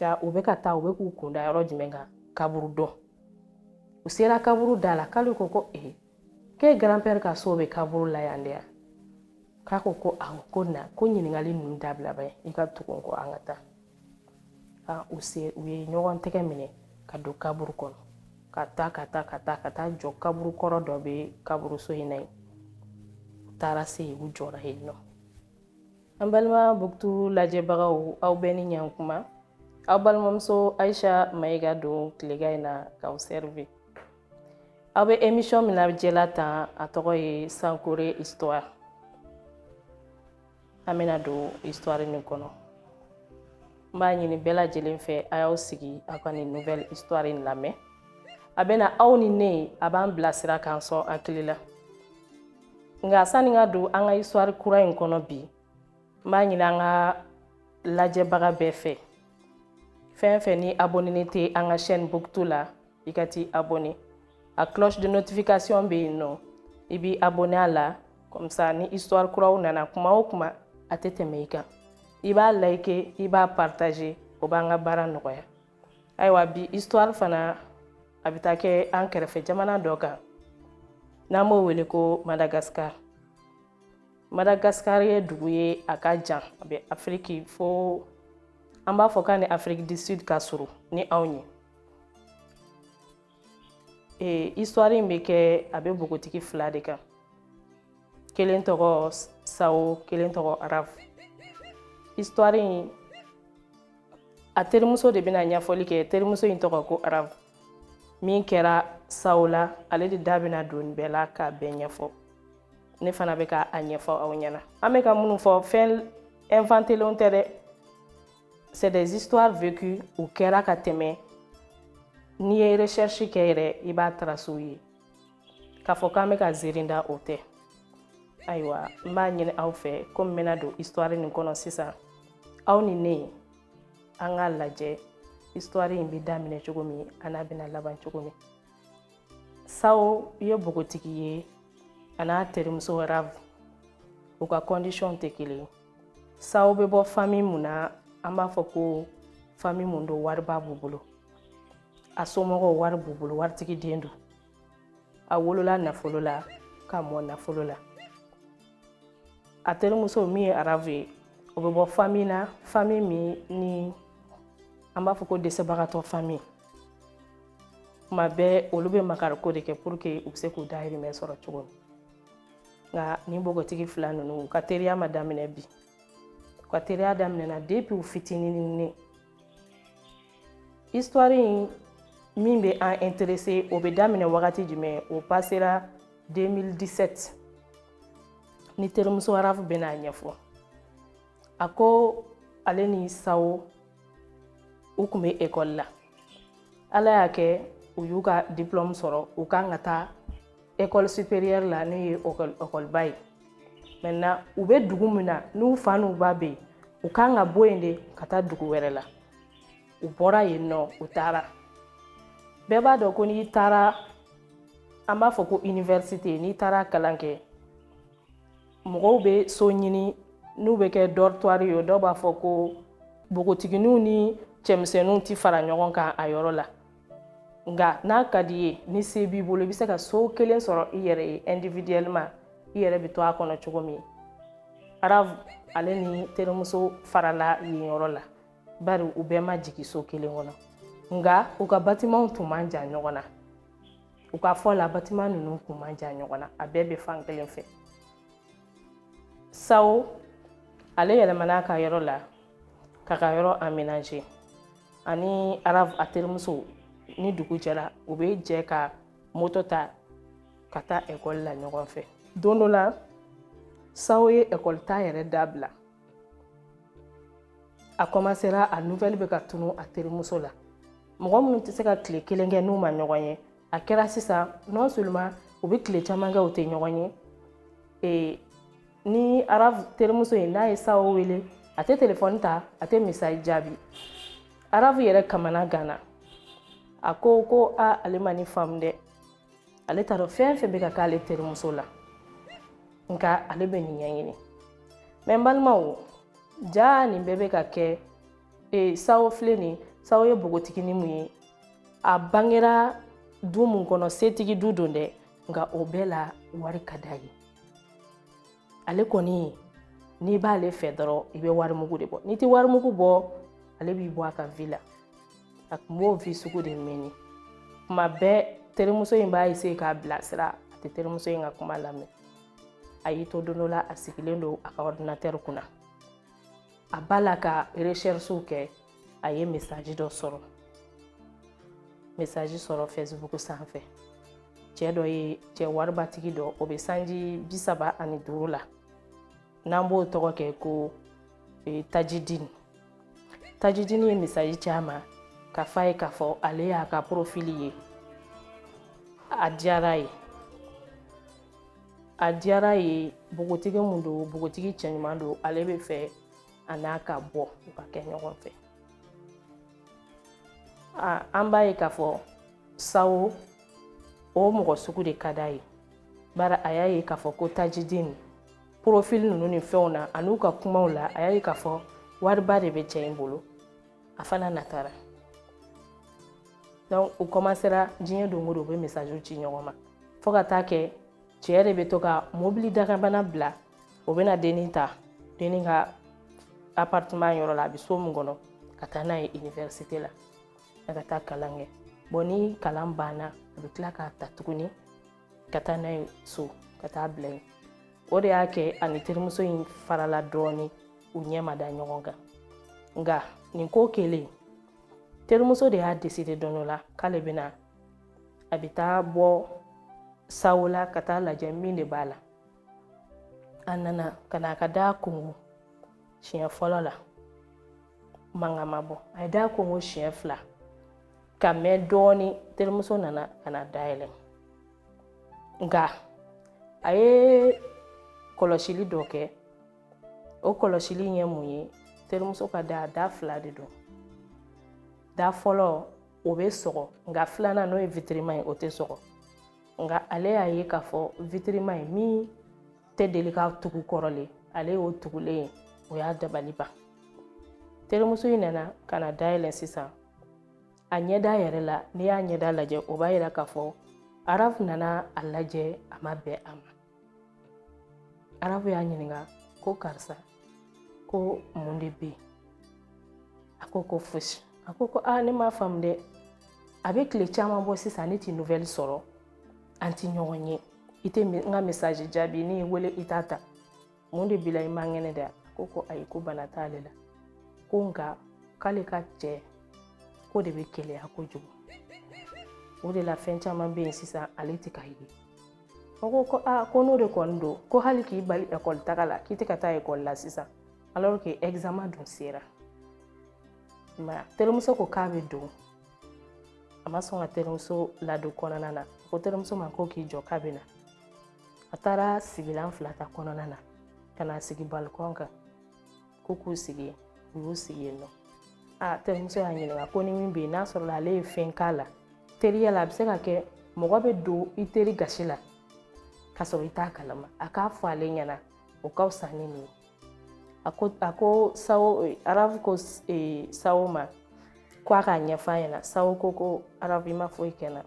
ja u bɛ ka taa u bɛ k'u kunda yɔrɔ jumɛn kan kaburu don u sera kaburu da la k'ale ko ko ee k'e grand-père ka so bɛ kaburu la yan de yan k'a ko ko awɔ ko na ko ɲininkali ninnu dabila ba i ka tugu n kɔ an ka taa ka u se u ye ɲɔgɔn tɛgɛ minɛ ka don kaburu kɔnɔ ka taa ka taa ka taa ka taa jɔ kaburu kɔrɔ dɔ bɛ kaburuso in na yen u taara se yen u jɔra yen nɔ an balima buktu lajɛbagaw aw bɛɛ ni ɲankuma aw balimamuso ayisa mayiga don tilegan in na k'aw servir aw bɛ émission min lajɛla tan a tɔgɔ ye sankore histoire an bɛna don histoire nin kɔnɔ n b'a ɲini bɛɛ lajɛlen fɛ a y'aw sigi aw ka nin nouvelle histoire in lamɛn a bɛna aw ni ne a b'an bilasira k'an sɔn hakili la nka sani ka don an ka histoire kura in kɔnɔ bi n b'a ɲini an ka lajɛbaga bɛɛ fɛ fɛn fɛn ni abonnélen tɛ an ka chaîne buktu la i ka t'i abonné a cloche de notification bɛ yen nɔ i b'i abonné a la comme ça ni histoire kuraw nana kuma o kuma a tɛ tɛmɛ i kan i b'a like i b'a partager o b'an ka baara nɔgɔya ayiwa bi histoire fana a bɛ taa kɛ an kɛrɛfɛ jamana dɔ kan n'an b'o wele ko madagascar madagascar ye dugu ye a ka jan a bɛ afiriki fo an b'a fɔ k'a ni afrique du sud ka surun ni anw ye ee histoire in bɛ kɛ a bɛ npogotigi fila de kan kelen tɔgɔ sawo kelen tɔgɔ arafu histoire in a terimuso de bɛna ɲɛfɔli kɛ terimuso in tɔgɔ ko arafu min kɛra sawo la ale de da bɛna don nin bɛɛ la k'a bɛɛ ɲɛfɔ ne fana bɛ ka a ɲɛfɔ aw ɲɛna an bɛ ka minnu fɔ fɛn inventélenw tɛ dɛ C'est des histoires vécues u kɛra ka tɛmɛ n'i ye recherche kɛ yɛrɛ i b'a tracew ye k'a fɔ k'an bɛ ka ziirin da o tɛ ayiwa n b'a ɲini aw fɛ komi n bɛna don histoire nin kɔnɔ sisan aw ni ne an k'a lajɛ histoire in bɛ daminɛ cogo min a n'a bɛna laban cogo min sawo ye npogotigi ye a n'a terimuso arafu u ka condition tɛ kelen ye sawo bɛ bɔ fami mun na an b'a fɔ ko fami mun don wariba b'u bolo a somɔgɔw wari b'u bolo waritigi den don a wolola nafolo la ka mɔ nafolo la a terimuso min ye arafu ye o bɛ bɔ fami na fami min ni an b'a fɔ ko dɛsɛbagatɔ fami kuma bɛɛ olu bɛ makariko de kɛ pour que u bɛ se k'u dahirimɛ sɔrɔ cogo min nka nin npogotigi fila ninnu u ka teriya ma daminɛ bi u ka teriya daminɛna depuis u fitinin histoire in min bɛ an interese o bɛ daminɛ wagati jumɛn o pasera 2017 ni terimuso arafu bɛn'a ɲɛfɔ a ko ale ni sawo u tun bɛ ekɔli la ala y'a kɛ u y'u ka diplɔmu sɔrɔ u kan ka taa ekɔli superiɛri la n'o ye ekɔliba ye maintenant u bɛ dugu min na n'u fa n'u ba bɛ yen u kan ka bɔ yen de ka taa dugu wɛrɛ la u bɔra yen nɔ u taara bɛɛ b'a dɔn ko n'i taara an b'a fɔ ko université n'i taara kalan kɛ mɔgɔw bɛ so ɲini n'u bɛ kɛ dortoir ye dɔw b'a fɔ ko npogotigininw ni cɛmisɛnninw tɛ fara ɲɔgɔn kan a yɔrɔ la nka n'a ka di ye ni se b'i bolo i bɛ se ka so kelen sɔrɔ i yɛrɛ ye individuellement i yɛrɛ bɛ to a kɔnɔ cogo min arafu ale ni terimuso farala yen yɔrɔ la bari u bɛɛ ma jigin so kelen kɔnɔ nka u ka batimanw tun man jan ɲɔgɔn na u ka fɔ la batiman ninnu tun man jan ɲɔgɔn na a bɛɛ bɛ fan kelen fɛ sawo ale yɛlɛmana a ka yɔrɔ la k'a ka yɔrɔ aménager ani arafu a terimuso ni dugu jɛra u bɛ jɛ ka moto ta ka taa ekɔli la ɲɔgɔn fɛ don dɔ la sawo ye ekɔli taa yɛrɛ dabila a kɔmasera a nuvɛli bɛ ka tunu a terimuso la mɔgɔ minnu tɛ se ka tile kelen kɛ n'u ma ɲɔgɔn ye a kɛra sisan non seulement u bɛ tile caman kɛ u tɛ ɲɔgɔn ye ni arafu terimuso ye n'a ye sawo wele a tɛ telefɔni ta a tɛ message jaabi arafu yɛrɛ kamanaganna a ko ko a ale ma nin faamu dɛ ale t'a dɔn fɛn fɛn bɛ ka k'ale terimuso la nka ale bɛ nin ɲɛɲini mɛ n balimaw jaa nin bɛɛ bɛ ka kɛ e, sawo filɛ nin sawo ye npogotiginin mun ye a bangera du mun kɔnɔ setigi du don dɛ nka o bɛɛ la wari ka d'a ye ale kɔni n'i b'ale fɛ dɔrɔn i bɛ warimugu de bɔ n'i tɛ warimugu bɔ ale b'i bɔ a ka vi la a tun b'o vi sugu de mene kuma bɛɛ terimuso in b'a eseye k'a bilasira a tɛ terimuso in ka kuma lamɛn a y'i to don dɔ la a sigilen don a ka ordinatɛri kunna a b'a la ka recherches kɛ a ye mesaji dɔ sɔrɔ mesaji sɔrɔ fɛsibuku sanfɛ cɛ dɔ ye cɛ waribatigi dɔ o bɛ sanji bi saba ani duuru la n'an b'o tɔgɔ kɛ ko e, tajidini tajidini ye mesaji ci a ma k'a f'a ye k'a fɔ ale y'a ka porofili ye a diyara ye a diyara ye npogotigi mun don npogotigi cɛɲuman don ale bɛ fɛ a n'a ka bɔ u ka kɛ ɲɔgɔn fɛ an b'a ye k'a fɔ sawo o mɔgɔ sugu de ka d'a ye bari a y'a ye k'a fɔ ko tajidini porofili ninnu ni fɛnw na ani u ka kumaw la a y'a ye k'a fɔ wariba de bɛ cɛ in bolo a fana natara donc u kɔmasera diɲɛ don o don u bɛ mesaji ci ɲɔgɔn ma fo ka taa kɛ cɛ de bɛ to ka mobili dagabana bila o bɛna dennin ta dennin ka appartement yɔrɔ la a bɛ so min kɔnɔ ka taa n'a ye université la a ka taa kalan kɛ bon ni kalan banna a bɛ tila k'a ta tuguni ka taa n'a ye so ka taa bila yen o de y'a kɛ a ni terimuso in farala dɔɔni u ɲɛ ma da ɲɔgɔn kan nka nin ko kɛlen terimuso de y'a deside don dɔ la k'ale bɛna a bɛ taa bɔ sawo la ka taa lajɛ min de b'a la a nana ka na a ka da konkon siɲɛ fɔlɔ la mankan ma bɔ a ye da konkon siɲɛ fila ka mɛn dɔɔni terimuso nana ka na da yɛlɛ nka a ye kɔlɔsili dɔ kɛ o kɔlɔsili ye mun ye terimuso ka da da fila de don da fɔlɔ o bɛ sɔgɔ nka filanan n'o ye witirima ye o tɛ sɔgɔ nka ale y'a ye k'a fɔ witirima ye min tɛ deli ka tugu kɔrɔlen ale y'o tugulen ye o y'a dabali ban terimuso in nana ka na da yɛlɛ sisan a ɲɛda yɛrɛ la n'i y'a ɲɛda lajɛ o b'a yira k'a fɔ arafu nana a lajɛ a ma bɛn a ma arafu y'a ɲininka ko karisa ko mun de bɛ yen a ko ko fosi a ko ko aa ne m'a faamu dɛ a bɛ tile caman bɔ sisan ne t'i nouvelle sɔrɔ an ti ɲɔgɔn ye i tɛ n ka message jaabi ne y'i wele i t'a ta mun de b'i la i man kɛnɛ dɛ ko ko ayi ko bana t'ale la ko nka k'ale ka cɛ ko de bɛ keleya kojugu o de la fɛn caman bɛ yen sisan ale tɛ ka ye o ko ko aa ko n'o de kɔni don ko hali k'i bali ekɔli taga la k'i tɛ ka taa ekɔli la sisan alors que examen dun sera mais terimuso ko k'a bɛ don a ma sɔn ka terimuso ladon kɔnɔna na ko terimuso ma ko k'i jɔ k'a bɛ na a taara sigilan fila ta kɔnɔna na ka na sigi balikɔn kan ko k'u sigi u y'u sigi yen nɔ a terimuso y'a ɲininka ko ni min bɛ yen n'a sɔrɔla ale ye fɛn k'a la teriya la a bɛ se ka kɛ mɔgɔ bɛ don i teri gasi la ka sɔrɔ i t'a kalama a k'a fɔ ale ɲɛna o ka fisa ni nin ye a ko a ko sawo arabu ko e, sawo ma ko a k'a ɲɛf'a ɲɛna sawo ko ko arabu i ma foyi kɛ n na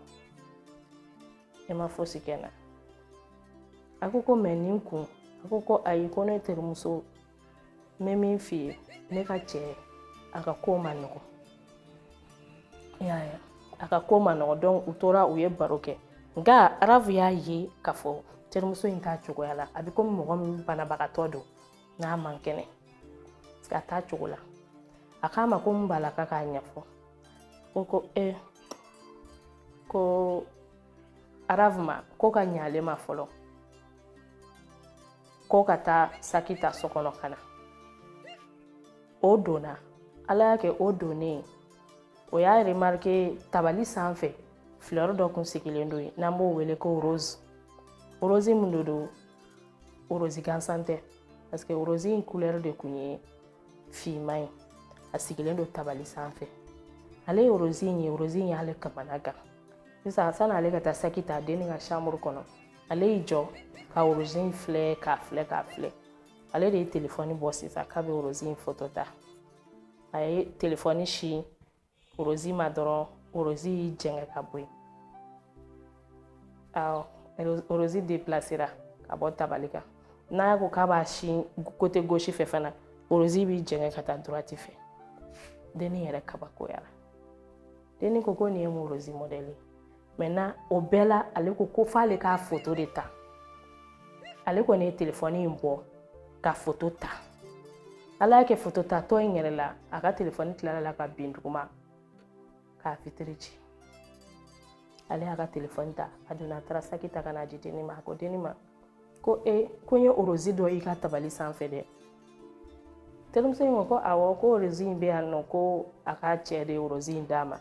ma fosi kɛ n na a ko ko mais nin kun a ko ko ayi ko ne terimuso n bɛ min f'i ye ne ka cɛ a ka ko man nɔgɔn a ka ko man nɔgɔn donc u tora u ye baro kɛ nka arabu y'a ye k'a fɔ terimuso in t'a cogoya la a bɛ komi mɔgɔ min banabagatɔ don n'a man kɛnɛ a t'a cogo la a k'a ma ko mun b'a la k'a k'a ɲɛfɔ O ko e ko arabu ma ko ka ɲɛ ale ma fɔlɔ ko ka taa saki ta so kɔnɔ ka na o donna ala y'a kɛ o donnen o y'a remarke tabali sanfɛ filɛri dɔ kun sigilen don yen n'an b'o wele ko rose rose mun de don rose gansan tɛ parce que rose in couleur de kun ye finman ye a sigilen don tabali sanfɛ ale ye rose in ye rose in y'ale kamana gan sisan sani ale ka taa saki ta denni ka chambre kɔnɔ ale y'i jɔ ka rose in filɛ k'a filɛ k'a filɛ ale de ye telefɔni bɔ sisan k'a bɛ rose in foto ta a ye telefɔni sin rose ma dɔrɔn rose y'i jɛngɛ ka bɔ yen awɔ rose depilasera ka bɔ tabali kan n'a ko k'a b'a sin côté gauche fɛ fana rose b'i jɛngɛ ka taa droite fɛ denni yɛrɛ kabakoyara denni ko ko nin ye mun rose mɔdɛli ye maintenant o bɛɛ la ale ko ko f'ale k'a foto de ta ale kɔni ye telefɔni in bɔ ka foto ta ala y'a kɛ foto tatɔ in yɛrɛ la a ka telefɔni tilal'a la ka bin duguma k'a vitre ci ale y'a ka telefɔni ta a donna a taara saki ta ka n'a di denni ma a ko denni ma ko e ko n ye orozi dɔ i ka tabali sanfɛ dɛ terimuso in ko ko awɔ ko orozi in bɛ yan nɔ ko a ka cɛ de ye orozi in d'a ma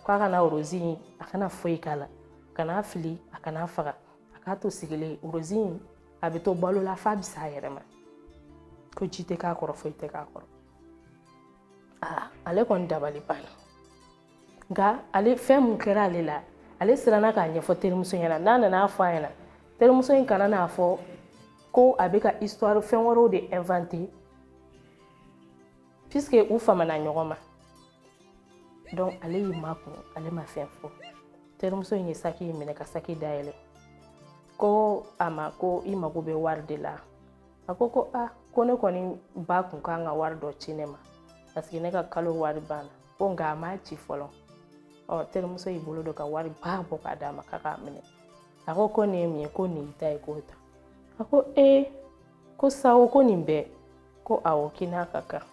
ko a kana orozi in a kana foyi k'a la kana fili a kana faga a k'a to sigilen orozi in a bɛ to balo la f'a bɛ sa a yɛrɛ ma ko ji tɛ k'a kɔrɔ foyi tɛ k'a kɔrɔ aa ale kɔni dabali banna nka ale fɛn mun kɛra ale la ale siranna k'a ɲɛfɔ terimuso ɲɛna n'a nana a fɔ a ɲɛna terimuso in kana n'a fɔ ko a bɛ ka histoire fɛn wɛrɛw de inventer puisque u famana ɲɔgɔn ma donc ale y'i makun ale ma fɛn fɔ terimuso in ye saki in minɛ ka saki dayɛlɛ ko a ma ko i mago bɛ wari de la a ko ko a ko ne kɔni ba kun kan ka wari dɔ ci ne ma paseke ne ka kalo wari banna ko nka a m'a ci fɔlɔ ɔ terimuso y'i bolo don ka wari ba bɔ k'a d'a ma k'a k'a minɛ a ko ko nin ye mun ye ko nin y'i ta ye k'o ta a ko ee ko sawo ko nin bɛɛ ko awɔ k'i n'a ka kan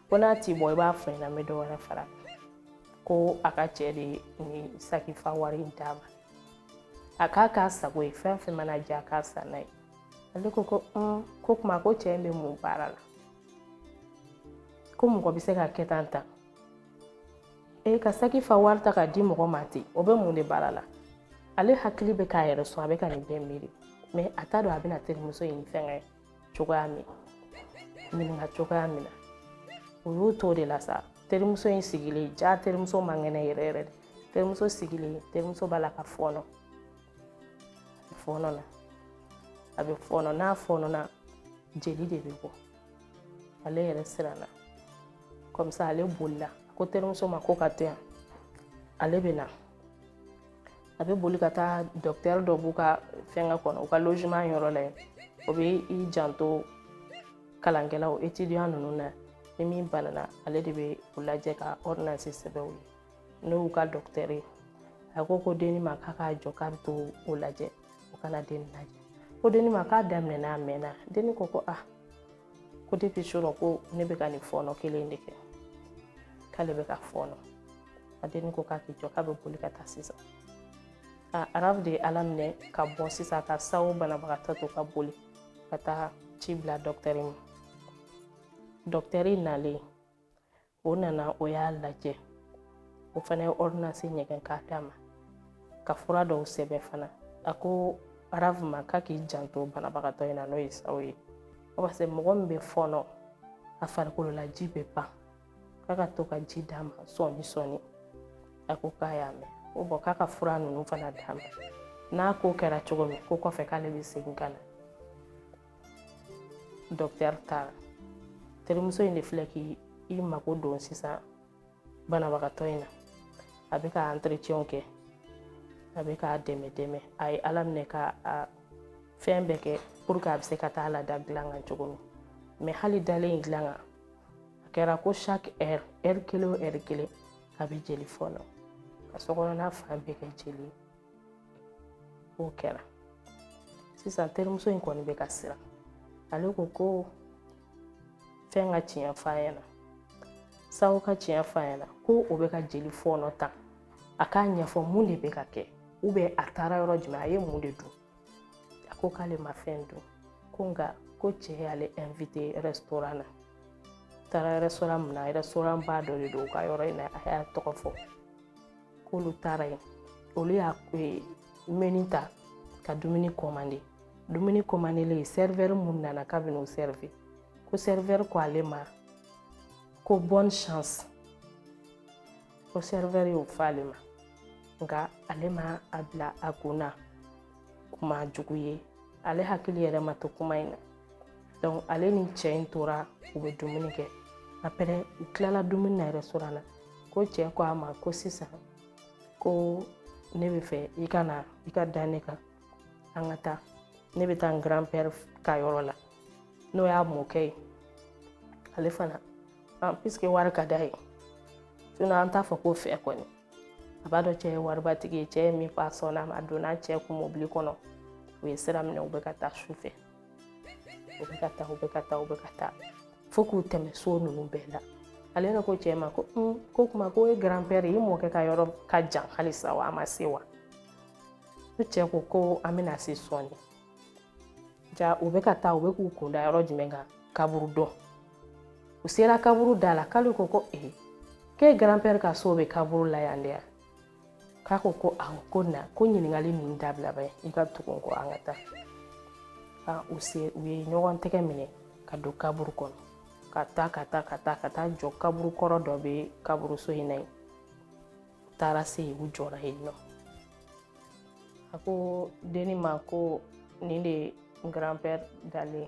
ko n'a t'i bɔ i b'a fɔ n ɲɛna n bɛ dɔ wɛrɛ fara ko a ka cɛ de nin saki fa wari in d'a ma a k'a k'a sago ye fɛn fɛn mana diya a k'a san n'a ye ale ko ko ko kuma ko cɛ in bɛ mun baara la ko mɔgɔ bɛ se ka kɛ tan ta e ka saki fa wari ta k'a di mɔgɔ ma ten o bɛ mun de baara la ale hakili bɛ k'a yɛrɛ sɔn a bɛ ka nin bɛɛ miiri mɛ a t'a dɔn a bɛna terimuso in fɛngɛ cogoya min ɲininka cogoya min na o y'o t'o de la sa terimuso in sigilen jaa terimuso man kɛnɛ yɛrɛ yɛrɛ de terimuso sigilen terimuso b'a la ka fɔɔnɔ fɔɔnɔ na a bɛ fɔɔnɔ n'a fɔɔnɔna jeli de bɛ bɔ ale yɛrɛ siranna kɔmisa ale bolila a ko terimuso ma ko ka to yan ale bɛ na a bɛ boli ka taa dɔkitɛri dɔ b'u ka fɛngɛ kɔnɔ u ka logement yɔrɔ la yen o bɛ i janto kalankɛlaw étudiant ninnu na ni min banana ale de bɛ u lajɛ ka ordonnance sɛbɛn u ye n'o y'u ka dɔkitɛri ye a ko ko denni ma k'a k'a jɔ k'a bɛ t'o lajɛ o ka na denni lajɛ ko denni ma k'a daminɛna a mɛnna denni ko ko ah ko depi surɔ ko ne bɛ ka nin fɔɔnɔ kelen de kɛ k'ale bɛ ka fɔɔnɔ a denni ko k'a k'i jɔ k'a bɛ boli ka taa sisan a arabu de ye ala minɛ ka bɔ sisan ka sawo banabagatɔ to ka boli ka taa ci bila dɔkitɛri ma dɔkitɛri nalen o nana o y'a lajɛ o fana ye ordonnance ɲɛgɛn k'a d'a ma ka fura dɔw sɛbɛn fana a ko arabu ma k'a k'i janto banabagatɔ in na n'o ye sawo ye parce que mɔgɔ min bɛ fɔɔnɔ a farikolola ji bɛ ban k'a ka to ka ji d'a ma sɔɔni sɔɔni a ko k'a y'a mɛn ko bon k'a ka fura ninnu fana d'a ma n'a ko kɛra cogo min ko kɔfɛ k'ale bɛ segin ka na docteur taara terimuso in de filɛ k'i mako don sisan banabagatɔ in na a bɛ ka entretien kɛ a bɛ k'a dɛmɛ dɛmɛ a ye ala minɛ ka a fɛn bɛɛ kɛ pour que a bɛ se ka taa lada dilan kan cogo min mais hali dalen in dilan kan a kɛra ko chaque heure heure kelen o heure kelen a bɛ jeli fɔɔnɔ ka sokɔnɔna fan bɛɛ kɛ jeli ye o kɛra sisan terimuso in kɔni bɛ ka siran ale ko ko fɛn ka tiɲɛ f'a ɲɛna sago ka tiɲɛ f'a ɲɛna ko o bɛ ka jeli fɔɔnɔ tan a k'a ɲɛfɔ mun de bɛ ka kɛ ou bien a taara yɔrɔ jumɛn a ye mun de dun a ko k'ale ma fɛn dun ko nka ko cɛ y'ale invité restaurant na taara restaurant min na restaurant ba dɔ de don u ka yɔrɔ in na a y'a tɔgɔ fɔ k'olu taara yen olu y'a e, menu ta ka dumuni commander dumuni commandelen serveur mun nana k'a bɛn'o servir ko serveur ko ale ma ko bonne chance ko serveur y'o fɔ ale ma nka ale ma a bila a kun na kuma jugu ye ale hakili yɛrɛ ma to kuma in na donc ale ni cɛ in tora u bɛ dumuni kɛ après u tilala dumuni na restaurant na ko cɛ ko a ma ko sisan ko ne bɛ fɛ i ka na i ka da ne kan an ka taa ne bɛ taa n grand père ka yɔrɔ la n'o y'a mɔkɛ ye ale fana puisque wari ka d'a ye sinon an t'a fɔ ko fɛ kɔni a b'a dɔn cɛ ye waribatigi ye cɛ ye min fɔ a sɔnna a ma a donna cɛ kun mobili kɔnɔ u ye sira minɛ u bɛ ka taa su fɛ u bɛ ka taa u bɛ ka taa u bɛ ka taa fo k'u tɛmɛ so ninnu bɛɛ la ale yɛrɛ ko cɛ ma ko ko kuma ko e grand père i mɔkɛ ka yɔrɔ ka jan halisa wa a ma se wa ko cɛ ko ko an bɛna se sɔɔni ja u bɛ ka taa u bɛ k'u kunda yɔrɔ jumɛn kan kaburudo u sera kaburu da la k'ale ko ko ee k'e grand père ka so bɛ kaburu la yan de yan k'a ko ko awɔ ko na ko ɲininkali ninnu dabila bɛ i ka tugu n kɔ an ka taa ka u se u ye ɲɔgɔn tɛgɛ minɛ ka don kaburu kɔnɔ ka taa ka taa ka taa ka taa jɔ kaburu kɔrɔ dɔ bɛ kaburuso in na yen u taara se yen u jɔra yen nɔ a ko denni ma ko nin de n grand-père dalen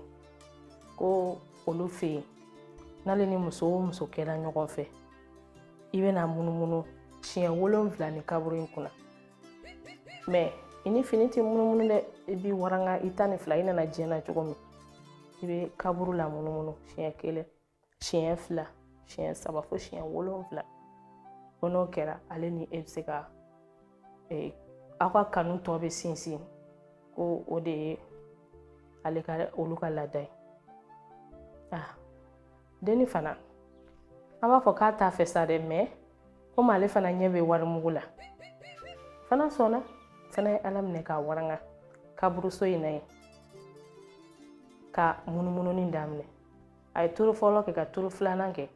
ko olu fɛ yen n'ale ni muso o muso kɛra ɲɔgɔn fɛ i bɛna munumunu siɲɛ wolonfila nin kaburu in kunna mɛ i ni fini tɛ munumunu dɛ i b'i waranga i tan ni fila i nana diɲɛ na cogo min i bɛ kaburu lamunumunu siɲɛ kelen siɲɛ fila siɲɛ saba fo siɲɛ wolonfila ko n'o kɛra ale ni e bɛ se ka e, aw ka kanu tɔ bɛ sinsin ko o de ye ale ka olu ka laada ye ah denni fana an b'a fɔ k'a t'a fɛ sa dɛ mɛ komi ale fana ɲɛ bɛ warimugu la fana sɔnna fana ye ala minɛ k'a waranga kaburuso in na yen ka munumununi daminɛ a ye turu fɔlɔ kɛ ka turu filanan kɛ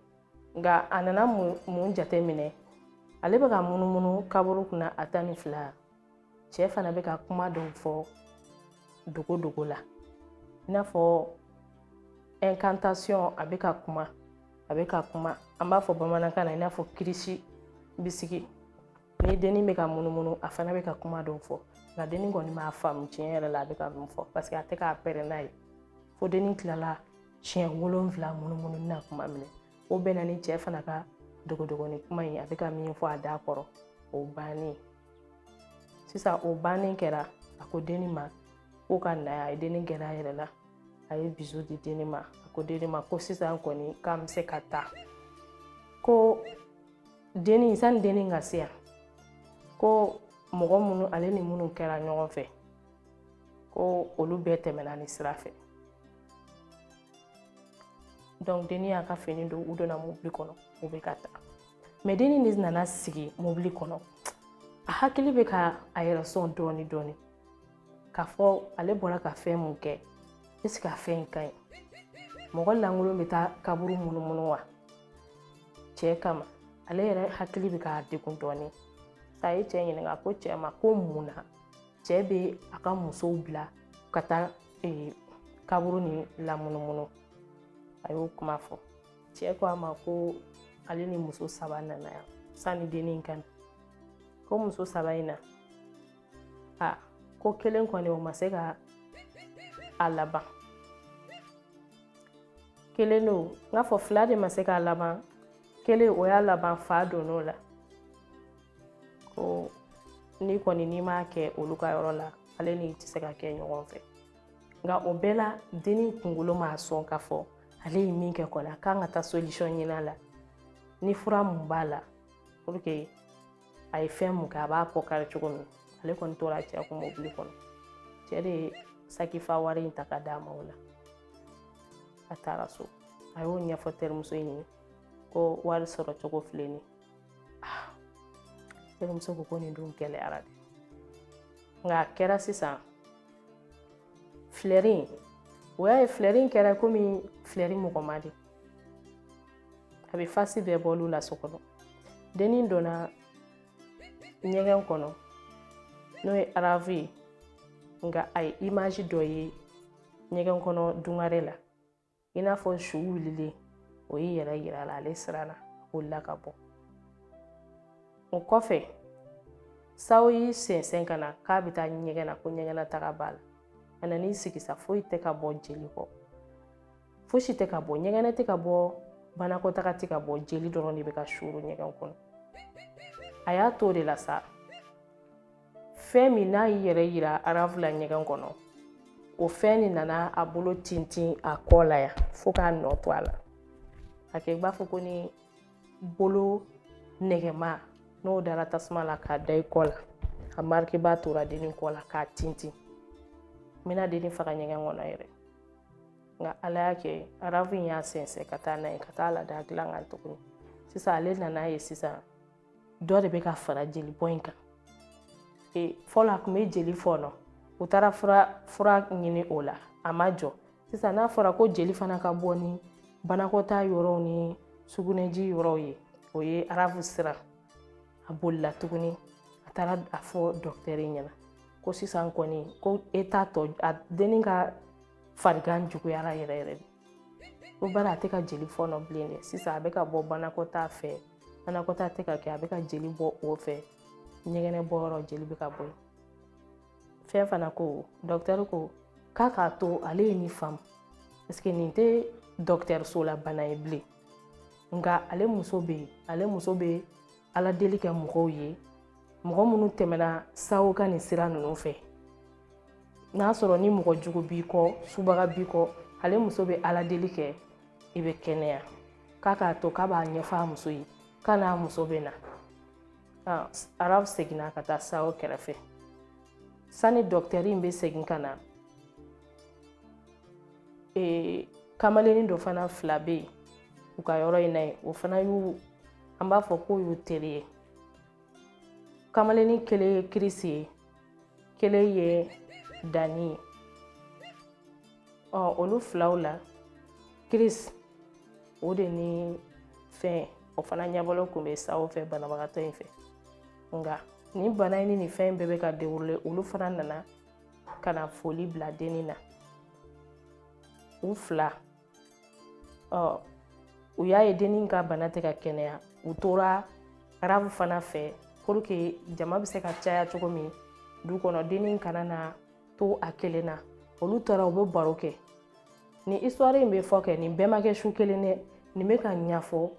nka a nana mun jate minɛ ale bɛ ka munumunu kaburu kunna a tan ni fila cɛ fana bɛ ka kuma dɔw fɔ dogo dogo la i n'a fɔ incantation a bɛ ka kuma a bɛ ka kuma an b'a fɔ bamanankan na i n'a fɔ kirisi bisigi ni dennin bɛ ka munumunu a fana bɛ ka kuma dɔw fɔ nka dennin kɔni m'a faamu tiɲɛ yɛrɛ la a bɛ ka mun fɔ paseke a tɛ k'a pɛrɛn n'a ye fo dennin tilala siɲɛ wolonwula munumunu na kuma min na o bɛnna ni cɛ fana ka dogodogoni kuma in a bɛ ka min fɔ a da kɔrɔ o bannen sisan o bannen kɛra a ko dennin ma ko ka na a ye dennin gɛrɛ a yɛrɛ la a ye bizu di dennin ma a ko dennin ma ko sisan kɔni k'an bɛ se ka taa ko denni sani denni ka se yan ko mɔgɔ minnu ale ni minnu kɛra ɲɔgɔn fɛ ko olu bɛɛ tɛmɛna nin sira fɛ donc denni y'a ka fini don u donna mobili kɔnɔ u bɛ ka taa mɛ denni de nana sigi mobili kɔnɔ a hakili bɛ ka a yɛrɛ sɔn dɔɔni dɔɔni k'a fɔ ale bɔra ka fɛn mun kɛ est ce que a fɛn in ka ɲi mɔgɔ lankolon bɛ taa kaburu munumunu wa cɛ kama ale yɛrɛ hakili bɛ k'a yɛrɛ degun dɔɔnin a ye cɛ ɲininka ko cɛ ma ko mun na cɛ bɛ a ka musow bila ka taa e, kaburu nin lamunumunu a y'o kuma fɔ cɛ ko a ma ko ale ni muso saba nana yan sanni denni in ka na ko muso saba in na a ko kelen kɔni o ma se ka a laban kelen don n k'a fɔ fila de ma se k'a laban kelen o y'a laban fa donn'o la ko nin kɔni n'i m'a kɛ olu ka yɔrɔ la ale n'i tɛ se ka kɛ ɲɔgɔn fɛ nka o bɛɛ la denni kunkolo b'a sɔn k'a fɔ ale ye min kɛ kɔni a kan ka taa solution ɲini a la ni fura mun b'a la a ye fɛn mun kɛ a b'a kɔ kari cogo min ale kɔni tora cɛ kun mobili kɔnɔ cɛ de ye sakifa wari in ta ka d'a ma o la a taara so a y'o ɲɛfɔ terimuso in ye ko wari sɔrɔ cogo filɛ nin ah, terimuso ko ko nin dun gɛlɛyara dɛ nka a kɛra sisan filɛri in o y'a ye filɛri in kɛra komi filɛri mɔgɔma de a bɛ fasi bɛɛ bɔ olu la so kɔnɔ dennin donna ɲɛgɛn kɔnɔ n'o ye arafu ye nka a ye imaji dɔ ye ɲɛgɛn kɔnɔ dungare la i n'a fɔ su wulilen o y'i yɛrɛ yira la ale siranna o la ka bɔ o kɔfɛ sawo y'i sɛnsɛn ka na k'a bɛ taa ɲɛgɛn na ko ɲɛgɛnna taga b'a la a nan'i sigi sa foyi tɛ ka bɔ jeli kɔ fosi tɛ ka bɔ ɲɛgɛnɛ tɛ ka bɔ banakɔtaga tɛ ka bɔ jeli dɔrɔn de bɛ ka suuru ɲɛgɛn kɔnɔ a y'a to o de la sa fɛn min n'a y'i yɛrɛ yira arafu la ɲɛgɛn kɔnɔ o fɛn de nana a bolo tintin a kɔ la yan fo k'a nɔ to a la a kɛ i b'a fɔ ko ni bolo nɛgɛma n'o dara tasuma la k'a da i kɔ la a marikiba tora dennin kɔ la k'a tintin n bɛna dennin faga ɲɛgɛn kɔnɔ yɛrɛ nka ala y'a kɛ arafu in y'a sɛnsɛn ka taa n'a ye ka taa lada dilan kan tuguni sisan ale nan'a ye sisan dɔ de bɛ ka fara jeli bɔ in kan e, fɔlɔ a tun bɛ jeli fɔɔnɔ u taara fura ɲini o la a ma jɔ sisan n'a fɔra ko jeli fana ka bɔ ni banakɔtaa yɔrɔw ni sugunɛji yɔrɔw ye o ye arafu siran a bolila tuguni a taara a fɔ dɔkitɛri ɲɛna ko sisan kɔni ko e t'a dɔn a dennin ka farigan juguyara yɛrɛ yɛrɛ de ko bari a tɛ ka jeli fɔɔnɔ bilen dɛ sisan a bɛ ka bɔ banakɔtaa fɛ banakɔtaa tɛ ka kɛ a bɛ ka jeli bɔ o fɛ ɲɛgɛnɛ bɔ yɔrɔ jeli bɛ ka bɔ yen fɛ fana ko dɔkitɛri ko k'a k'a to ale ye nin faamu paseke nin tɛ dɔkitɛriso la bana ye bilen nka ale muso bɛ yen ale muso bɛ ala deli kɛ mɔgɔw ye mɔgɔ minnu tɛmɛna sawo ka nin sira ninnu fɛ n'a sɔrɔ ni mɔgɔ jugu b'i kɔ subaga b'i kɔ ale muso bɛ ala deli kɛ i bɛ kɛnɛya k'a k'a to k'a b'a ɲɛfɔ a muso ye k'a n'a muso bɛ na arafu seginna ka taa sawo kɛrɛfɛ sani dɔkitɛri in bɛ segin ka na ee kamalennin dɔ fana fila bɛ yen u ka yɔrɔ in na yen o fana y'u an b'a fɔ k'o y'u teri ye kamalennin kelen ye kirisi ye kelen ye dani ye ɔ olu filaw la kirisi o de ni fɛn o fana ɲɛbɔlen tun bɛ sawo fɛ banabagatɔ in fɛ nka nin bana in ni nin fɛn in bɛɛ bɛ ka derule olu fana nana ka na foli bila denni na u fila ɔ u y'a ye denni ka bana tɛ ka kɛnɛya u tora arafu fana fɛ puruke jama bɛ se ka caya cogo min du kɔnɔ denni kana na to a kelen na olu tora u bɛ baro kɛ nin histoire in bɛ fɔ kɛ nin bɛɛ ma kɛ su kelen dɛ nin bɛ ka ɲɛfɔ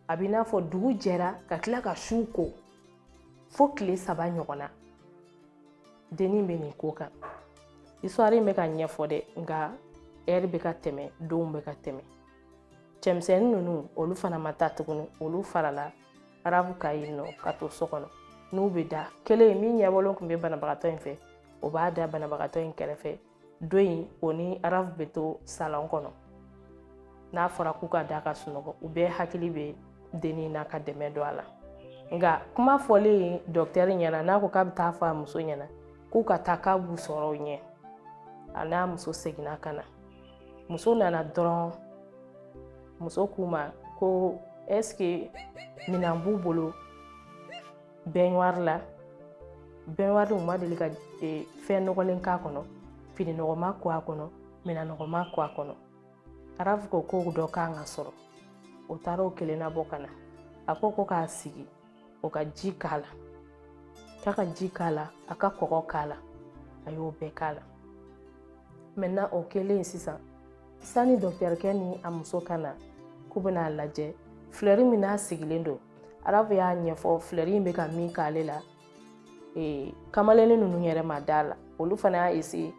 a bɛ n'a fɔ dugu jɛra ka tila ka su ko fo tile saba ɲɔgɔn na dennin bɛ nin ko kan histoire in bɛ ka ɲɛfɔ dɛ nka ɛri bɛ ka tɛmɛ donw bɛ ka tɛmɛ cɛmisɛnnin ninnu olu fana ma taa tuguni olu farala arafu kan yen nɔ ka to so kɔnɔ n'u bɛ da kelen min ɲɛbɔlen tun bɛ banabagatɔ in fɛ o b'a da banabagatɔ in kɛrɛfɛ dɔ in o ni arafu bɛ to salɔn kɔnɔ n'a fɔra k'u ka da ka sunɔgɔ u bɛɛ hakili bɛ dennin na ka dɛmɛ don a la nka kuma fɔlen dɔkitɛri ɲɛna n'a ko k'a bɛ taa fɔ a muso ɲɛna k'u ka taa k'a b'u sɔrɔ u ɲɛ a n'a muso seginna ka na muso nana dɔrɔn muso k'u ma ko ɛseke minan b'u bolo bɛnwari la bɛnwari u ma deli ka e, fɛn nɔgɔlen k'a kɔnɔ fini nɔgɔma ko a kɔnɔ minan nɔgɔma ko a kɔnɔ arafu ko k'o dɔ kan ka sɔrɔ o taara o kelen nabɔ ka na a ko ko k'a sigi o ka ji k'a la k'a ka ji k'a la a ka kɔgɔ k'a la a y'o bɛɛ k'a la mɛtɛnan o kɛlen sisan sani dɔkitɛrikɛ ni a muso ka na k'u bɛna a lajɛ filɛri min n'a sigilen don arafu y'a ɲɛfɔ filɛri in bɛ ka min k'ale la ee kamalennin ninnu yɛrɛ ma da a la olu fana y'a eseye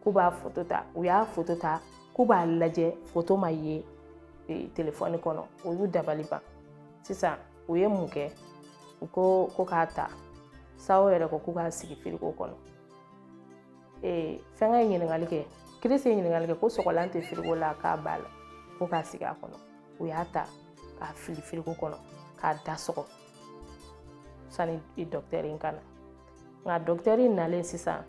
k'u b'a foto ta u y'a foto ta k'u b'a lajɛ foto ma ye e, telefɔni kɔnɔ o y'u dabali ban sisan u ye mun kɛ u ko ko k'a ta sawo yɛrɛ ko k'u k'a sigi firiko kɔnɔ ee fɛnkɛ ye ɲininkali kɛ kirisi ye ɲininkali kɛ ko sɔgɔlan tɛ firiko la k'a b'a la ko k'a sigi a kɔnɔ u y'a ta k'a fili firiko kɔnɔ k'a da sɔgɔ sani dɔkitɛri in ka na nka dɔkitɛri in nalen sisan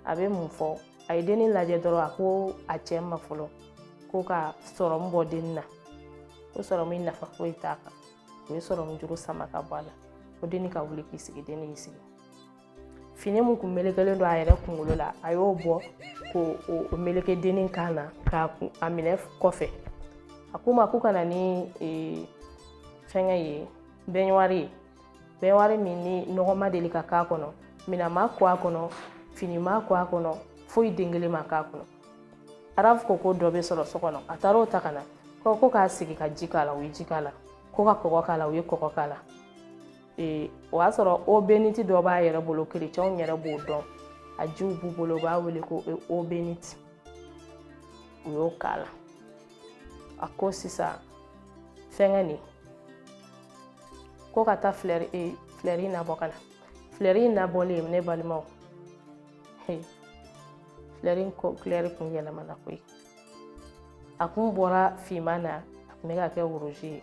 a bɛ mun fɔ a ye denni lajɛ dɔrɔn a ko a cɛ ma fɔlɔ ko ka sɔrɔmu bɔ denni na ko sɔrɔmu in nafa foyi t'a kan o ye sɔrɔmu juru sama ka bɔ a la ko denni ka wuli k'i sigi denni y'i sigi fini mun kun melekelen don a yɛrɛ kunkolo la a y'o bɔ k'o meleke dennin kan na k'a kun a minɛ kɔfɛ a k'u ma ko ka na ni e, fɛngɛ ye bɛnwari ye bɛnwari min ni nɔgɔ ma deli ka k'a kɔnɔ minɛn ma ko a kɔnɔ fini ma ko a kɔnɔ foyi den kelen ma k'a kɔnɔ arafu ko ko dɔ bɛ sɔrɔ so kɔnɔ a taara o ta ka na ko ko k'a sigi ka ji k'a la u ye ji k'a la ko ka kɔgɔ k'a la u ye kɔgɔ k'a la ee o y'a sɔrɔ obeniti dɔ b'a yɛrɛ bolo kerecɛnw yɛrɛ b'o dɔn a jiw b'u bolo u b'a wele ko obeniti u y'o k'a la a ko sisan fɛngɛ nin ko ka taa filɛri e filɛri in nabɔ ka na filɛri in nabɔlen ne balimaw filɛri in kulɛri kun yɛlɛmana koyi a kun bɔra finman na a kun bɛ ka kɛ woroji ye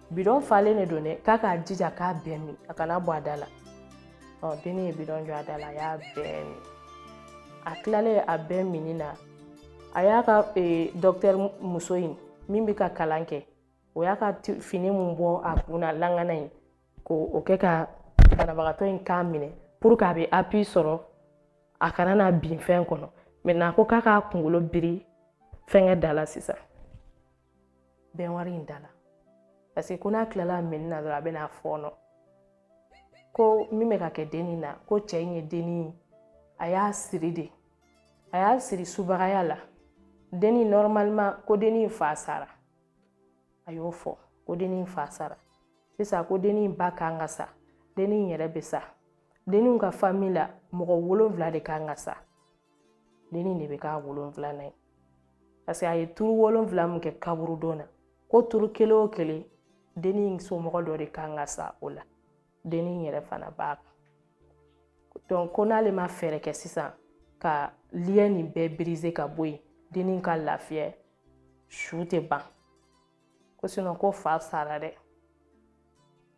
bidɔn falen de don dɛ k'a k'a jija k'a bɛɛ min a kana bɔ a da la ɔ denni ye bidɔn jɔ a da la a y'a bɛɛ min a tilalen a bɛɛ minni na a y'a ka e, dɔkitɛri muso in min bɛ ka kalan kɛ o y'a ka fini mun bɔ a kun na langana in k'o kɛ ka banabagatɔ in kan minɛ pour que a bɛ appui sɔrɔ a kana na bin fɛn kɔnɔ maintenant ko k'a k'a kunkolo biri fɛnkɛ da la sisan bɛnwari in da la paseke ko n'a tilala minni na dɔrɔn a bɛna fɔɔnɔ ko min bɛ ka kɛ denni na ko cɛ in ye denni a y'a siri de a y'a siri subagaya la denni normalement ko denni in fa sara a y'o fɔ ko denni in fa sara sisan ko denni in ba kan ka sa denni in yɛrɛ bɛ sa denni ka fami la mɔgɔ wolonfila de kan ka sa dennin de bɛ k'a wolonfilanan ye paseke a ye turu wolonfila mun kɛ kaburudo na ko turu kelen o kelen dennin somɔgɔ dɔ de kan ka sa o la dennin yɛrɛ fana b'a kan donc ko n'ale ma fɛɛrɛ kɛ sisan ka liyɛn nin bɛɛ birize ka bɔ yen dennin ka lafiya su tɛ ban ko sinon k'o fa sara dɛ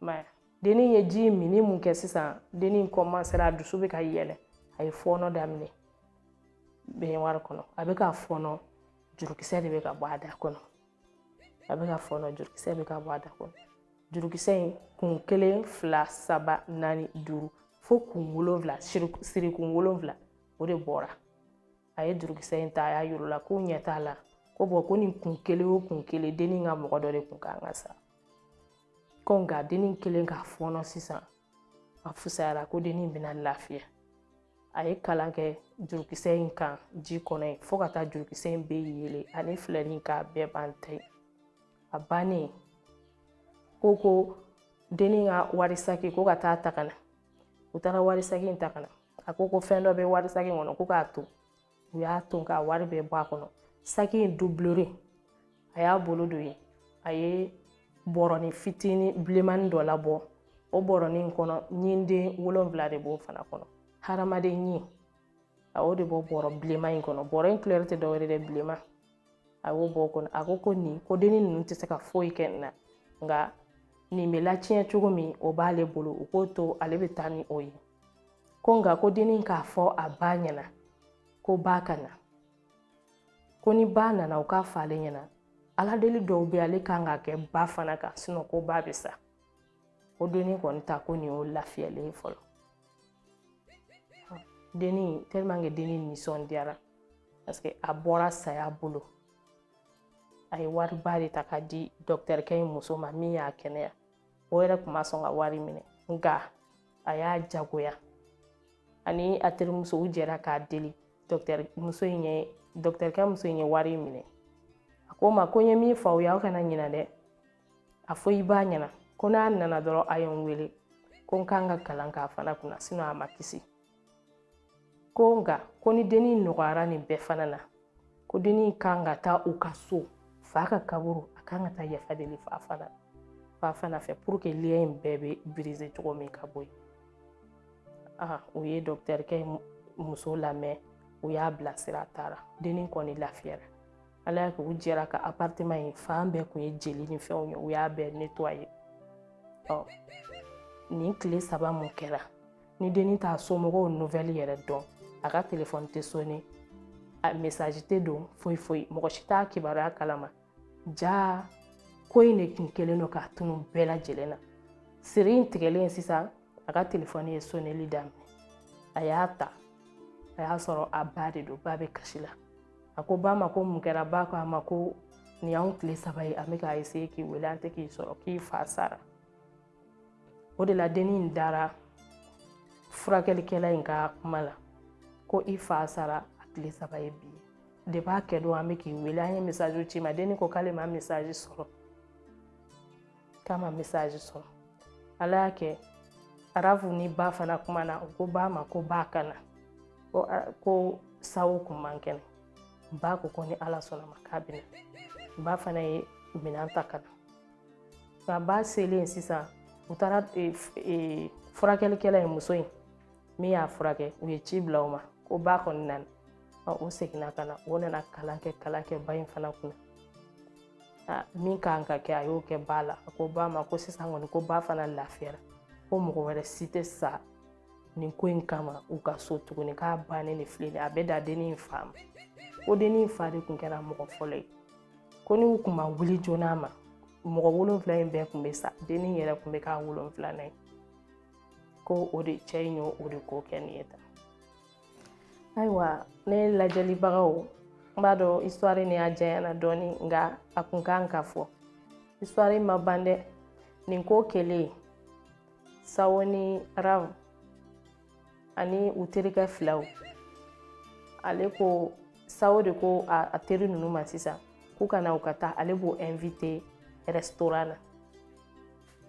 mɛ dennin ye ji minni mun kɛ sisan dennin kɔmansera a dusu bɛ ka yɛlɛ a ye fɔɔnɔ daminɛ bɛnwari kɔnɔ a bɛ ka fɔɔnɔ jurukisɛ de bɛ ka bɔ a da kɔnɔ a bɛ ka fɔɔnɔ jurukisɛ bɛ ka bɔ a da kɔnɔ jurukisɛ in kun kelen fila saba naani duuru fo kun wolonfila sirikun wolonfila o de bɔra a ye jurukisɛ in ta a y'a yir'u la k'u ɲɛ t'a la ko bɔn ko nin kun kelen o kun kelen dennin ka mɔgɔ dɔ de kun kan ka sa ko nka dennin kɛlen k'a fɔɔnɔ sisan a fusayara ko dennin bɛna lafiya a ye kalan kɛ jurukisɛ in kan ji kɔnɔ yen fo ka taa jurukisɛ in bɛɛ yeele ani filɛri in k'a bɛɛ ban ta ye a bannen ko ko dennin ka wari saki ko ka taa ta ka na u taara wari saki in ta ka na a ko ko fɛn dɔ bɛ wari saki kɔnɔ ko k'a to u y'a to k'a wari bɛɛ bɔ a kɔnɔ saki in doublure a y'a bolo don yen a ye bɔrɔni fitinin bilenmani dɔ labɔ o bɔrɔni in kɔnɔ ɲinden wolonwula de b'o fana kɔnɔ hadamaden ɲin a y'o de bɔ bɔrɔ bilenman in kɔnɔ bɔrɔ in kulɛri tɛ dɔwɛrɛ dɛ bilenman a y'o bɔ o kɔnɔ a ko ko nin ko denni ninnu tɛ se ka foyi kɛ nin na nka nin bɛ latiɲɛ cogo min o b'ale bolo u k'o to ale bɛ taa ni o ye ko nka ko denni k'a fɔ a ba ɲɛna ko ba ka na ko ni ba nana u k'a fɔ ale ɲɛna ala deli dɔw bɛ ale kan ka kɛ ba fana kan sinɔn ko ba bɛ sa ko denni kɔni ta ko nin y'o lafiyalen ye fɔlɔ denni tellement que denni nisɔndiyara parce que a bɔra saya bolo a ye wariba de ta k'a di dɔkitɛrikɛ in muso ma min y'a kɛnɛya o yɛrɛ tun ma sɔn ka wari minɛ nka a y'a jagoya ani a terimuso u jɛra k'a deli dɔkitɛri muso in ye dɔkitɛrikɛ muso in ye wari minɛ a k'u ma ko n ye min fɔ aw ye aw kana ɲinɛ dɛ a fɔ i ba ɲɛna ko n'a nana dɔrɔn a ye n wele ko n kan ka kalan k'a fana kunna sinɔn a ma kisi ko nka ko ni dennin nɔgɔyara nin bɛɛ fana na ko dennin kan ka taa u ka so fa ka kaburu a kan ka taa yafa deli fa fana fa fana fɛ pour que lien in bɛɛ bɛ birize cogo min ka bɔ yen aa u ye dɔkitɛrikɛ muso lamɛn u y'a bilasira a taara dennin kɔni lafiyara ala y'a kɛ u jɛra ka aparteman in fan bɛɛ kun ye jeli ni fɛnw ye u y'a bɛɛ netwaye ɔ nin tile saba min kɛra ni denni t'a somɔgɔw nuvɛli yɛrɛ dɔn a ka telefɔni tɛ sone a mesaji tɛ don foyi foyi mɔgɔ si t'a kibaruya kalama jaa ko in de tun kɛlen don k'a tunu bɛɛ lajɛlen na siri in tigɛlen sisan a ka telefɔni ye soneli daminɛ a y'a ta a y'a sɔrɔ a ba de don ba bɛ kasi la a ko ba ma ko mun kɛra ba ko a ma ko nin y'anw tile saba ye an bɛ k'a eseye k'i wele an tɛ k'i sɔrɔ k'i fa sara o de la denni in dara furakɛlikɛla in ka kuma la ko i fa sara a tile saba ye bi depuis a kɛ don an bɛ k'i wele an ye mesaji ci i ma denni ko k'ale ma mesaji sɔrɔ k'a ma mesaji sɔrɔ ala y'a kɛ arafu ni ba fana kumana u ko ba ma ko ba ka na ko ko sawo kun man kɛnɛ ba ko ko ni ala sɔnna ma k'a bɛ na ba fana ye minɛn ta ka na nka ba selen sisan u taara furakɛlikɛla ye muso in min y'a furakɛ u ye ci bila o ma ko ba kɔni nana u seginna ka na o nana kalan kɛ kalan kɛ ba in fana kunna min kan ka kɛ a y'o kɛ ba la a ko ba ma ko sisan kɔni ko ba fana lafiyara ko mɔgɔ wɛrɛ si tɛ sa nin ko in kama u ka so tuguni k'a bannen de filɛ a bɛ da dennin in fa ma ko dennin in fa de kun kɛra mɔgɔ fɔlɔ ye ko n'u kun ma wuli joona ma mɔgɔ wolonfila in bɛɛ kun bɛ sa dennin yɛrɛ kun bɛ k'a wolonfilanan ye ko o de cɛ in y'o o de ko kɛ nin ye tan ayiwa ne lajɛlibagaw n b'a dɔn histoire ni a janyana dɔɔni nka a kun kan ka fɔ histoire ma ban dɛ nin ko kɛlen sawo ni arafu ani u terikɛ filaw ale ko sawo de ko a teri ninnu ma sisan k'u ka na u ka taa ale b'o invite restaurant na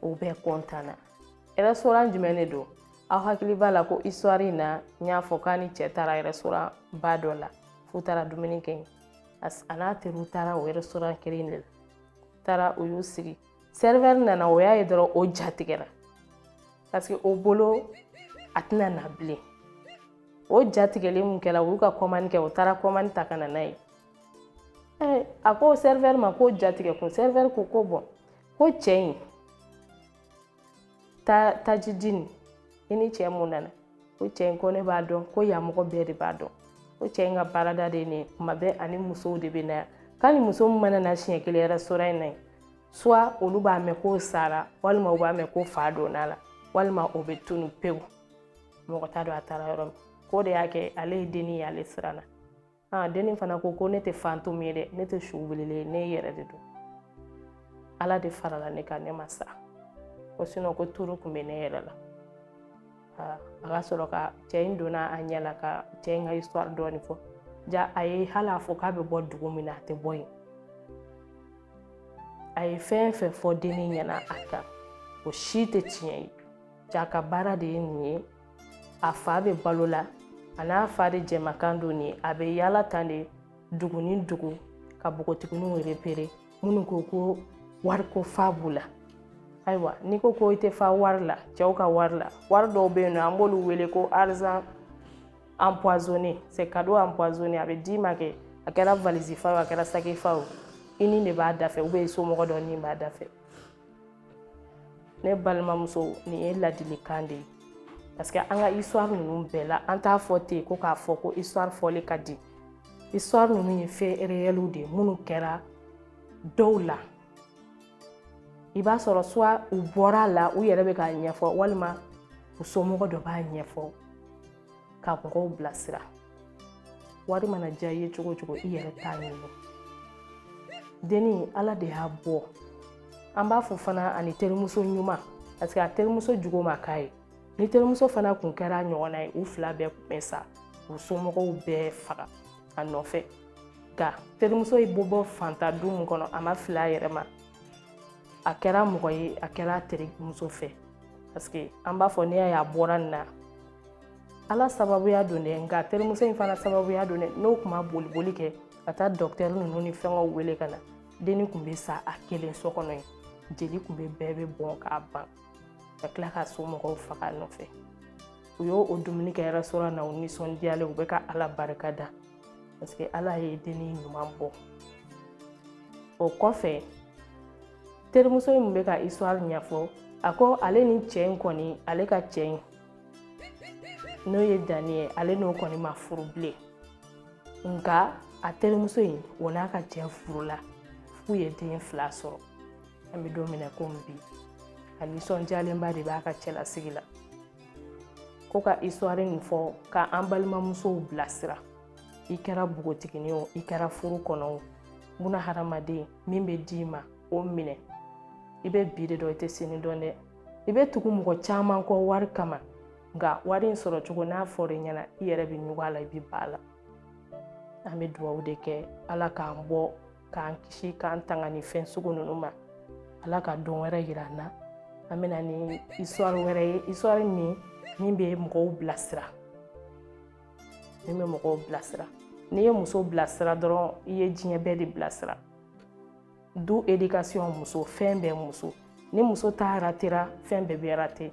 u bɛɛ kɔntanna restaurant jumɛn de don aw hakili b'a la ko histoire in na n y'a fɔ k'a ni cɛ taara restaurant ba dɔ la f'u taara dumuni kɛ yen a n'a teriw taara o restaurant kelen de la taara u y'u sigi serveur nana o y'a ye dɔrɔn o ja tigɛra parce que o bolo a tɛna na bilen o ja tigɛlen mun kɛra u y'u ka commande kɛ o taara commande ta ka na n'a ye a ko serveur ma k'o ja tigɛ kun serveur ko ko bon ko cɛ in ta tajidini i ni cɛ min nana ko cɛ in ko ne b'a dɔn ko yan mɔgɔ bɛɛ de b'a dɔn ko cɛ in ka baarada de ye nin kuma bɛɛ a ni musow de bɛ na yan k'a ni muso min mana na siɲɛ kelen restaurant in na yen soit olu b'a mɛn k'o sara walima u b'a mɛn ko fa donna la walima o bɛ tunu pewu mɔgɔ t'a dɔn a taara yɔrɔ min k'o de y'a kɛ ale ye denni ye ale siranna aa denni fana ko ko ne tɛ fantôme ye dɛ ne tɛ su wulilen ye ne yɛrɛ de don ala de farala ne kan ne ma sa ko sinon ko tour kun bɛ ne yɛrɛ la a ka sɔrɔ ka cɛ in donna a ɲɛ la ka cɛ in ka histoire dɔɔni fɔ ja a ye hali a fɔ k'a bɛ bɔ dugu min na a tɛ bɔ yen a ye fɛn fɛn fɔ denni ɲɛna a kan o si tɛ tiɲɛ ye jaa a ka baara de ye nin ye a fa bɛ balo la a n'a fa de jɛmakan don nin a bɛ yaala tan de dugu ni dugu ka bogotigininw repere minnu ko ko wariko fa b'u la ayiwa n'i ko ko i tɛ fa wari la cɛw ka wari la wari dɔw bɛ yen n'an b'olu wele ko argent empoisonné c'est cadeau empoisonné a bɛ d'i ma kɛ a kɛra valise fa o a kɛra saki fa o i ni de b'a da fɛ ou bien i somɔgɔ dɔ ni b'a da fɛ ne balimamuso nin ye ladilikan de ye parce que an ka histoire ninnu bɛɛ la an t'a fɔ ten ko k'a fɔ ko histoire fɔli ka di histoire ninnu ye fait réelw de ye minnu kɛra dɔw la i b'a sɔrɔ soit u bɔra a la u yɛrɛ bɛ k'a ɲɛfɔ walima u somɔgɔ dɔ b'a ɲɛfɔ ka mɔgɔw bilasira wari mana diya i ye cogo o cogo i yɛrɛ ta ɲini denni ala de y'a bɔ an b'a fɔ fana ani terimuso ɲuman parce que a terimuso jugu ma k'a ye ni terimuso fana kun kɛra ɲɔgɔnna ye u fila bɛɛ kun bɛ sa u somɔgɔw bɛɛ faga a nɔfɛ nka terimuso in bɛ bɔ faantan du min kɔnɔ a ma fili a yɛrɛ ma a kɛra mɔgɔ ye a kɛra terimuso fɛ parce que an b'a fɔ n'i y'a ye a bɔra nin na ala sababuya don dɛ nka terimuso in fana sababuya don dɛ n'o kun ma boliboli kɛ ka taa docteur ninnu ni fɛnkɛw wele ka na denni kun bɛ sa a kelen so kɔnɔ yen jeli kun bɛ bɛɛ bɛ bɔn k'a ban ka tila ka somɔgɔw faga a nɔfɛ u y'o dumuni kɛ restaurant na u nisɔndiyalen u bɛ ka ala barika da parce que ala ye denni ɲuman bɔ o kɔfɛ terimuso in min bɛ ka histoire ɲɛfɔ a ko ale ni cɛ in kɔni ale ka cɛ in n'o ye dani ye ale n'o kɔni ma furu bilen nka a terimuso in o n'a ka cɛ furula f'u ye den fila sɔrɔ an bɛ don min na komi bi a nisɔndiyalenba de b'a ka cɛlasigi la ko ka histoire nin fɔ ka an balimamusow bilasira i kɛra bogotigini o i kɛra furu kɔnɔ o buna hadamaden min bɛ d'i ma o minɛ i bɛ bi de dɔn i tɛ sini dɔn dɛ i bɛ tugu mɔgɔ caman kɔ wari kama nka wari in sɔrɔ cogo n'a fɔra i ɲɛna i yɛrɛ bɛ ɲugun a la i bɛ ban a la an bɛ dugawu de kɛ ala k'an bɔ k'an kisi k'an tanga nin fɛn sugu ninnu ma ala ka don wɛrɛ yira an na an bɛ na ni histoire wɛrɛ ye histoire min min bɛ mɔgɔw bilasira min bɛ mɔgɔw bilasira n'i ye muso bilasira dɔrɔn i ye diɲɛ bɛɛ de bilasira du éducation muso fɛn bɛɛ muso ni muso ta ratera fɛn bɛɛ bɛ rate